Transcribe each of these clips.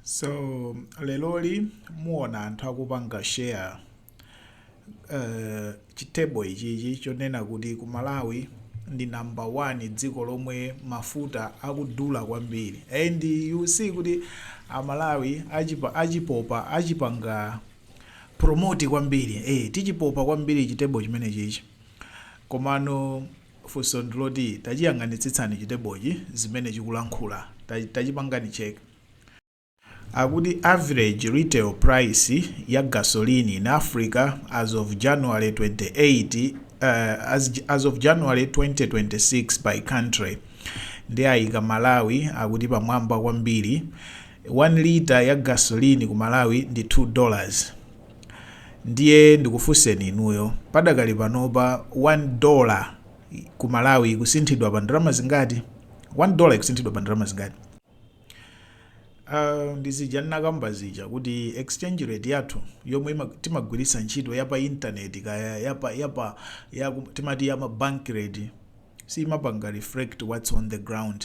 So leroli muona anthu akupanga share uh, chithebo ichichi chonena kuti ku Malawi ndi number 1 dziko lomwe mafuta akudula kwambiri and you'll see kuti amalawi achipa, achipopa achipanga promote kwambiri eh, tichipopa kwambiri chithebo chimene chichi komano Funso ndiloti tachiyang'anitsitsani chithebochi zimene chikulankhula. Tachipangani check. Akuti average retail price ya gasoline in Africa as of January 28 as of January 2026 by country nde ayika Malawi akuti pamwamba kwambiri 1 litre ya gasoline ku Malawi ndi 2 dollars. Ndiye ndikufunseni inuyo, padakali panopa one dollar ku Malawi ikusinthidwa pa ndalama zingati? One dollar ikusinthidwa pa ndalama zingati? Uh, ndi zija ndinakamba zija kuti exchange rate yathu yomwe ima- timagwiritsa ntchito ya pa intaneti kaya yapa yapa ya, timati ya ma bank rate siimapanga reflect what's on the ground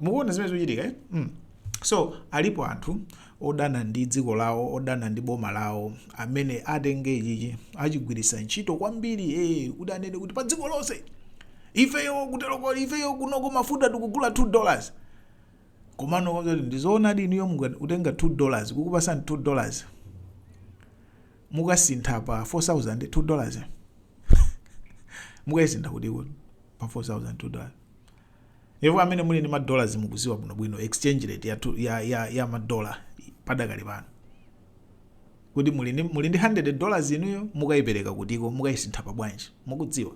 mukuona zimene zikuchitika eh? mm. so alipo anthu odana ndi dziko lawo odana ndi boma lawo amene atenge ichichi achigwiritsa ntchito kwambiri eh, kuti anene kuti pa dziko lonse ifeyo kuteroko ifeyo kunoko mafuta tikugula 2 dollars komano ndizoonadi inuyo kutenga 2 dollars kukupasani 2 dollars mukasintha pa 4000 2 dollars mukayisintha kutiko pa 4000 2 dollars Iwo amene muli ndi ma dollars mukuziwa bwino bwino exchange rate ya, ya, ya, ya ma dollar padakali pano kuti muli ndi muli ndi 100 dollars inuyo mukayipereka kutiko mukayisintha pa bwanji mukudziwa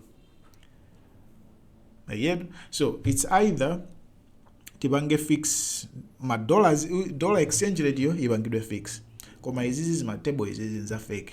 yet so it's either tipange fix ma dollars dollar exchange rate yo ipangidwe fix koma izizi zima table izizi nza fake